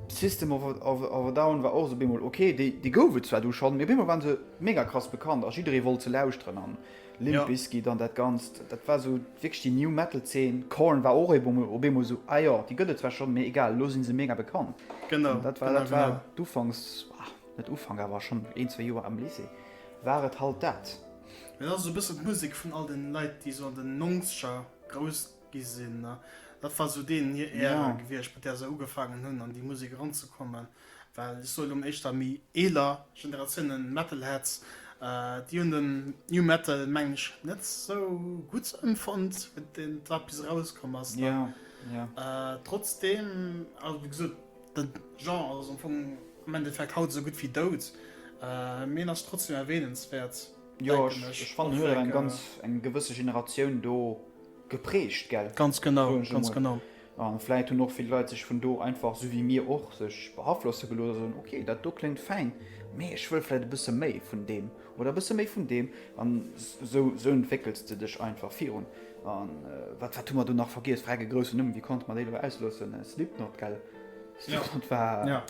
A: System of a, of, of a Down war och esou op eemol ok. Déi, déi gouf et zwar du schonn, mee op eemol waren se mega krass bekannt a jidderee wollt se lauschteren an Limp Bizkit an dat Ganzt, dat war esou wierklech déi New Metal Zeen. Korn war och op eemol esou, ah jo, déi gëtt et zwar schonn, mee egal, elo si se mega bekannt. An dat war, dat
B: war
A: d'Ufanks, net Ufank, awer schonn een, zwee Joer am Lycée war et halt dat. Mee dat ass esou e bëssen
B: d'Musek vun all den Leit, déi esou an den Nongzeger grouss gi sinn. Dat war esou deenen hir Ära gewiescht, mat där se ugefaangen hunn an déi Musek eranzekommen. Well ech soen, hunn éischter méi eeler Generatiounen, Metalheads, déi hunn den New Metal, mengen ech, net esou gutt emfonnt, wéi deen da bis erauskomm ass.
A: Trotzdeem,
B: also wéi gesot, de Genre ass am Fong am Endeffekt haut esou gutt wéi dout, mee en ass trotzdeem erwähnenswäert, denken ech.
A: Ech fannen, huet eng ganz eng gewësse Generatioun do geprägt, gell? Ganz genau, ganz
B: genau. A
A: vläit hunn och vill Leit sech vun do einfach, sou wéi mir och, sech behaflosse gelooss a soen, ok, dat do kléngt fäin, mee ech wëll vläit e bësse méi vun deem oder e bësse méi vun deem. A sou entwéckels de dech einfach virun. A wat wat hu mer do nach vergiess? Vreck e groussen Numm, wéi konnte mer dee lo ausloossen? Slipknot, gell? Slipknot war,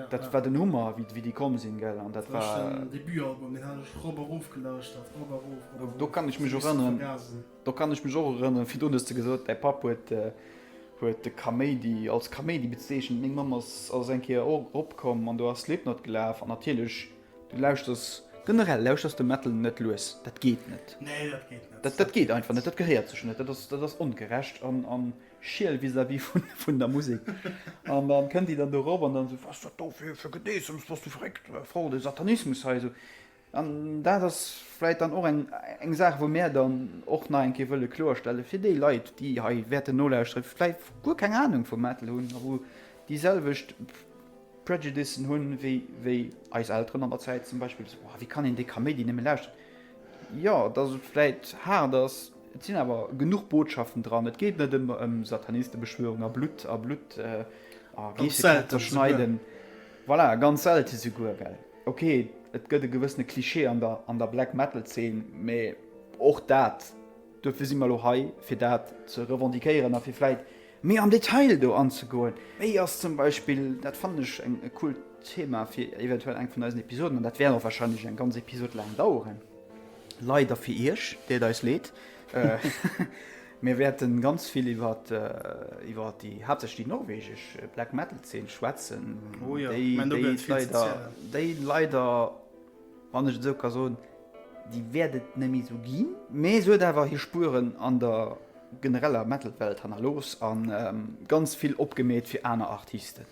A: dat war den Hummer, wéi déi komm sinn, gell? An dat war. Deen Debutalbum, deen
B: hat ech rop a rof gelauschtert, rop a rof, rop a rof. Do
A: kann ech mech och erënneren. Do kann ech mech och erënneren, virdrun hues de gesot, däi Papp huet huet de Kaméidi als Kaméidi bezeechent. Meng Mamm ass ass eng Kéier och eropkomm an do ass Slipknot gelaf an natierlech, du lauschters. Generell lauschters de Metal net lues, dat geet net. Nee, dat geet net. Dat
B: dat geet einfach net, dat gehéiert
A: sech net, dat ass dat ass ongerecht an an schiel vis-à-vis vun vun der Musek. An dann kënnt déi dann do erop an dann esou, was dat do fir fir Gedeessems, bass du verréckt, voll de Satanismus hei esou. An dat ass vläit dann och eng Saach, wou mär dann och nach eng Kéier wëlle kloerstellen, fir déi Leit, déi hei wäerten nolauschteren, vläit guer keng Anung vum Metal hunn a wou déiselwecht Prejudices hunn, wéi eis Elteren an der Zäit zum Beispill, esou, Wéi kann een déi Kaméidi nëmme lauschteren? Jo, dass et vläit haart ass, et sinn awer genuch Botschaften dran. Et geet net ëmmer ëm Satanistebeschwörung a Blutt a Blutt a Geessekräfter schneiden. Voilà, ganz selte souguer, well. Ok, et gëtt e gewëssene Klischee an der Black Metal Zeen, mä och dat, duerfir si mer elo hei, fir dat ze revendiquéieren a fir vläit méi am Detail do anzegoen. Wéi ass zum Beispill, dat fannen ech e coolt Thema fir eventuell eng vun eisen Episoden, an dat wäert och wahrscheinlech eng ganz Episod laang daueren, leider fir Iech, deet eis leed, Mir wäerten ganz vill iwwer iwwer déi haaptsächlech déi norwegesch Black Metal Zeen schwätzen. Oh ja, déi,
B: mein, déi leider,
A: déi leider wann ech esou ka soen, déi wäertet nemmi sou ginn. Mee se huet awer hir Spueren an der genereller Metalwelt hannerlooss an ähm, ganz vill opgemeet fir aner Artisten.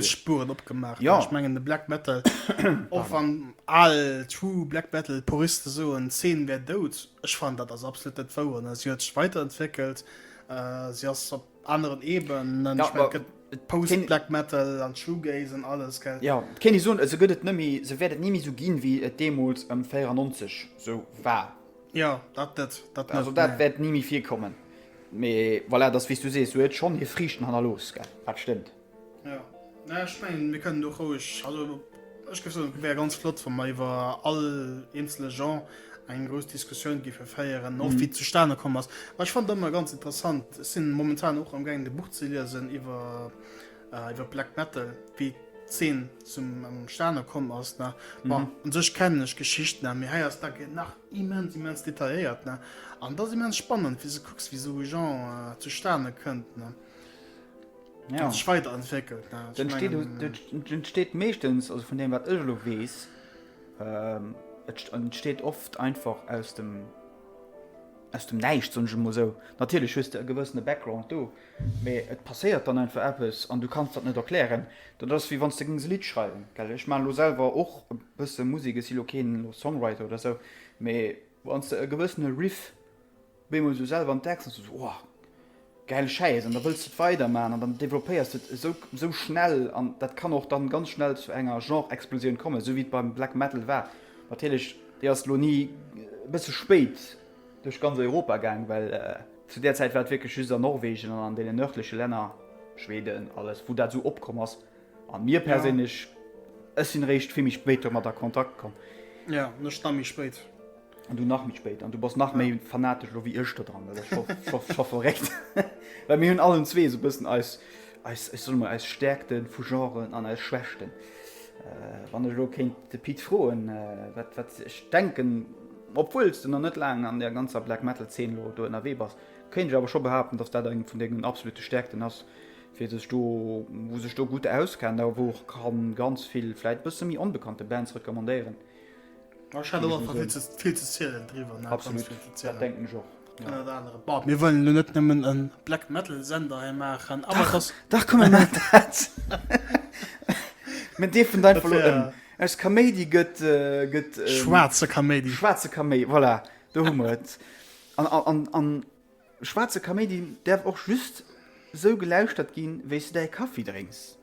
B: Spuren opgemacht ja. ich mengen de Black
A: Metal
B: och van all true Black Metal Puristen so en 10 wär dout Ech fan dat das absolut net wou an sie huet weiterentwickelt äh, sie as op anderen eben ja, ich mein,
A: Post
B: Black Metal an Shoegaze an alles gell? Ja kenne so se
A: gëtt et nëmi se werdet nimi so ginn wie et demols ëm 94 so war. Jo, dat net.
B: Dat net. Also, dat wäert ni
A: méi virkommen. Mee voilà, dass, wéi s du sees, sou huet schonn hir Friichten hannerlooss, gell? Dat stëmmt. Jo.
B: Naja, ech mengen, mir kënnen do roueg, also ech géif soen, et wär ganz flott, wa mer iwwer all eenzele Jean eng grouss Diskussioun géife féieren, och wéi et zustane komm ass. Mä ech fannen et ëmmer ganz interessant, ech si momentan och amgaangen, e Buch ze liesen iwwer iwwer Black Metal wéi d'Zeen zum Stane komm ass ne bon mhm. an sech kennen ech Geschicht ne mir heiers da gen nach immens immens detailiert ne an da immens spannend wie se kucks wie so Jean äh, zu Stane kënnt ne ja. weiter entwickelt den
A: steht mechtens also von dem wat lo wees ähm, steht oft einfach aus dem aus dem neicht so muss so natürlich höchst gewëssene background du Mee et passéiert dann einfach eppes an du kanns dat net erklären. Dat ass wéi wann s de géings e Lidd schreiwen. Ech maachen elo selwer och e bësse Musek, ech si elo keen Songwriter oder esou, mee wann s de e gewëssene Riff bémol esou selwer entdecks, ass et esou, Ohh, gäil Schäiss! An da wëlls de et weidermaachen an dann developpéiers de et esou, esou schnell. An dat kann och dann ganz schnell zu enger Genre-Explosioun kommen, esou wéi et beim Black Metal war. Natierlech, déi ass elo ni e bësse spéit. duerch ganz Europa gaang, well zu där Zäit war et wierklech just an Norwegen an an deenen nördleche Länner, Schweden, alles, wou dat esou opkomm ass. A mir perséinlech, ech sinn eréischt vill méi spéit domat a Kontakt komm. Ja, an ech nach
B: méi spéit. An du nach méi
A: spéit. An du bass nach méi fanatesch elo wéi ech dodran. Dat ass scho, scho, scho verréckt. Well mir hunn allen zwee esou e bëssen eis, eis, ech soe mol, eis Stäerkte vu Genren an eis Schwächten. Wann ech elo kéint de Pit froen, wat, wat, ech denken, Obwuel s de nach net laang an der ganzer Black Metal Zeen elo do ënnerwee bass, kéint ech awer scho behaapten, dass dat eng vun dengen absolute Stäerkten ass, wee sech do, wou sech do gutt auskennt a wou och ka ganz vill vläit e bësse méi onbekannte Bands recommandéieren. Ech hat och einfach
B: vill ze zielen driwwer, nach ganz vill ze zielen. Absolut, dat
A: denken ech och. Mir
B: wëllen elo net nëmmen e Black Metal Sender hei maachen. Dach komm mir maachen
A: dat. Mir dierfen dat einfach elo ëm. Aus Kaméidi gëtt. Schwaarze
B: Kaméidi. Schwaarze Kaméidi, voilà,
A: do hu mer et. An schwaarze Kaméidi däerf och just esou gelauschtert ginn, wéi s du däi Kaffi drénks.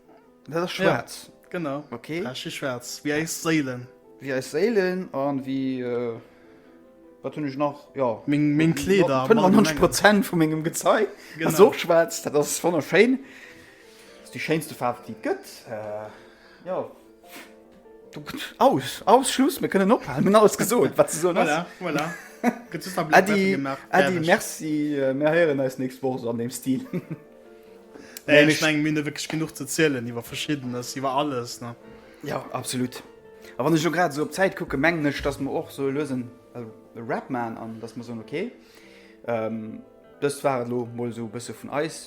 A: Dat ass schwaarz. Ja, genau. Okay. Dat
B: ass schi schwaarz,
A: wéi eis
B: Séilen. Wéi eis Séilen
A: an wéi. Äh, wat hunn ech nach? Ja. Meng, meng Kleeder.
B: 95 Prozent vu
A: mengem Gezei. Genau. Ass och schwaarz, dat ass wonnerschéin. Ass déi schéinste Faarf, déi et gëtt. Äh, ja. Aus, aus, Schluss, mir kënnen ophalen. Mir hunn alles gesot, wat ze soen ass. Voilà, voilà.
B: Gëtt just nach
A: Blätter gemaach. Äddi, Äddi, merci. Äh, mir héieren eis nächst Woch esou an deem Stil.
B: Nee, ech meng, mir hunn jo wierklech genuch ze zielen iwwer Verschiddenes, iwwer alles, ne? Jo, absolut.
A: A wann ech elo grad esou op d'Zäit kucken, mengen ech, datt mer och sou lues en Wrap maachen an datt mer soen, okay, dëst war et elo mol esou e bësse vun eis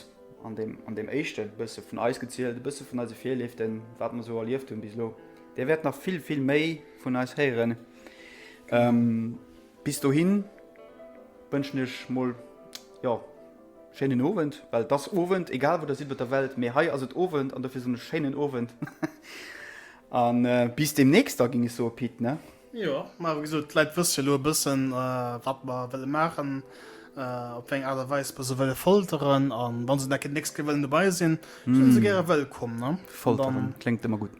A: an deem, an deem éischte bësse vun eis gezielt, e bësse vun eise Virlieften, wat mer esou erlieft hunn bis elo. Dir wäert nach vill, vill méi vun eis héieren. Bis dohin wënschen ech mol, jo. Schéinen Owend, well et ass Owend, egal wou der sidd op der Welt, mee hei ass et Owend an dofir soen ech schéinen Owend a bis deemnächst da, géing ech soen, Pit, ne? Jo, mä wéi gesot,
B: d'Leit wësse jo elo e bëssen, wat mer wëlle maachen, op wéi eng Aart a Weis mer se wëlle folteren a wa se da deemnächst gär wëllen dobäi sinn, sinn se gäre wëllkomm, ne? Folteren kléngt ëmmer
A: gutt.